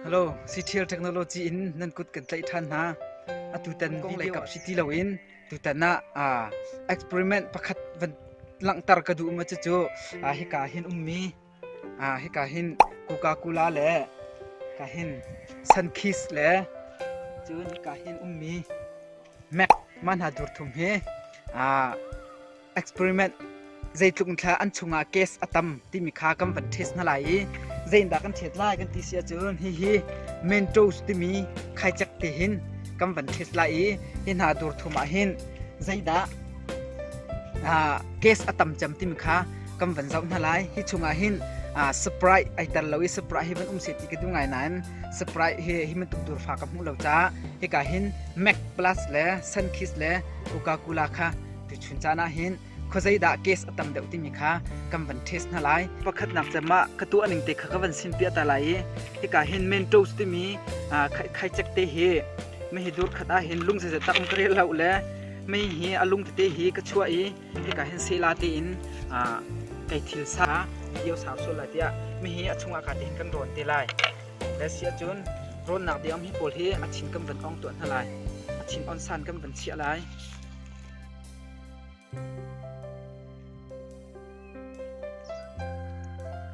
Halo, CTL Technology in nan kut kan tlaih ṭhan hna. Atutan video si ti loin tutan ah uh, experiment pakhat van langhter ka duh ma cucu uh, hika hin ummi uh, hika hin Coca Cola le hika hin Sunkist le cun hika hin ummi Mac man ha dur thum hi uh, experiment zeitluk in thla an chungah case a tam timi kha kan van test hna lai i zeindah kan test lai kan ti si ahcun hihi mentos timi khaicek te hin kan van test lai i hi hna dur thum ah hin zeidah case a tam cem timi kha kan van zoh hna lai hi chungah hin sprite ai tar lo i sprite hi van um se ti ka duh ngai nain sprite hi hi man tuk dur fa ka hmuh lo ca hika hin mac plus le sunkis le coca cola kha Tuchun caan ah hin khuazei dah case a tam deuh timi kha kan van test hna lai. Pakhatnak cem ah ka tuah ning te kha ka van sin piah ta lai i hika hin men toast timi khaicek te hi mei hi dur khat ah hin lung zeizat tak ka rel lo le mei hi a lung tete hi ka chuah i hika hin sela tein kei thil sa io sau sual lai tiah mi hi a chungah ka tein kan rawn te lai le sia cun rawnnak diam hi pawl hi a thin kan van ong tuah hna lai a thin on san kan van chiah lai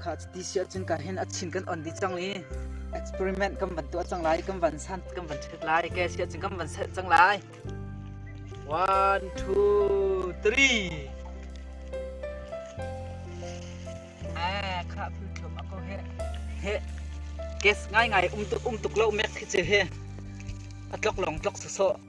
Kha cuti si ahcun ka hin a chin kan on dih cang i experiment kan van tuah cang lai, kan van san, kan van check lai. Ke si ahcun kan van set cang lai. One, two, three. À, khá phu chom ako he. He. Gas ngai ngai um tuk um tuk lo mek khi che he. A tlok long tlok so so.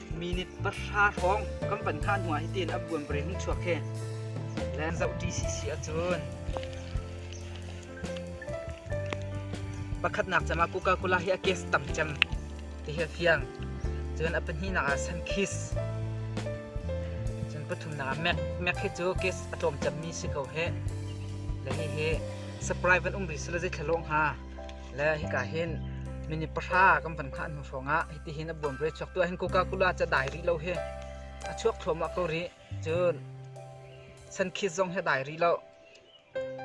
minute pahra hrawng kan pan kha hnu ah hitin a buan pare hung chuak he len zoh TCC ahcun pakhatnak cama Coca Cola hi a case tam cem ti hi fiang cun a pahnih nak ah san kiss cun pathum nak ah mac mac hi cu case a tlawm cem mi si ko he le hi hi surprise an um rih sila zei thlalawng ha Le hika hin minute pahra kan van hngah hnu hrawngah hiti hin a buan rih chuak tu hin Coca Cola ca dai rih lo hi a chuak thluahmah ko rih cun san khit zong hi a dai rih lo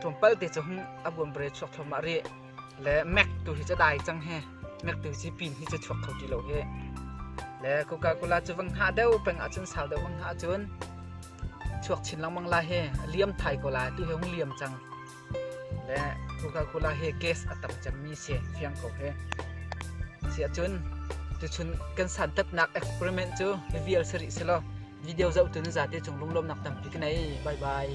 tlawmpal te cu a buan bre chuak thluahmah rih le Mac tu hi ca dai cang hi Mac tu hi pin hi ca chuak kho ti lo hi le Coca Cola cu vang hah deuh peng ahcun sau deuh vang hah ahcun chuak chin lengmang la hi liam thai ko la tu hi hung liam cang le Coca-Cola hi gas a tam cemmi si fiang ko hi. Siahcun tuchun kan santatnak experiment cu hi vial si rih selaw video zohtu nu zate cung lunglawmnak tampi ka nei. Bye bye.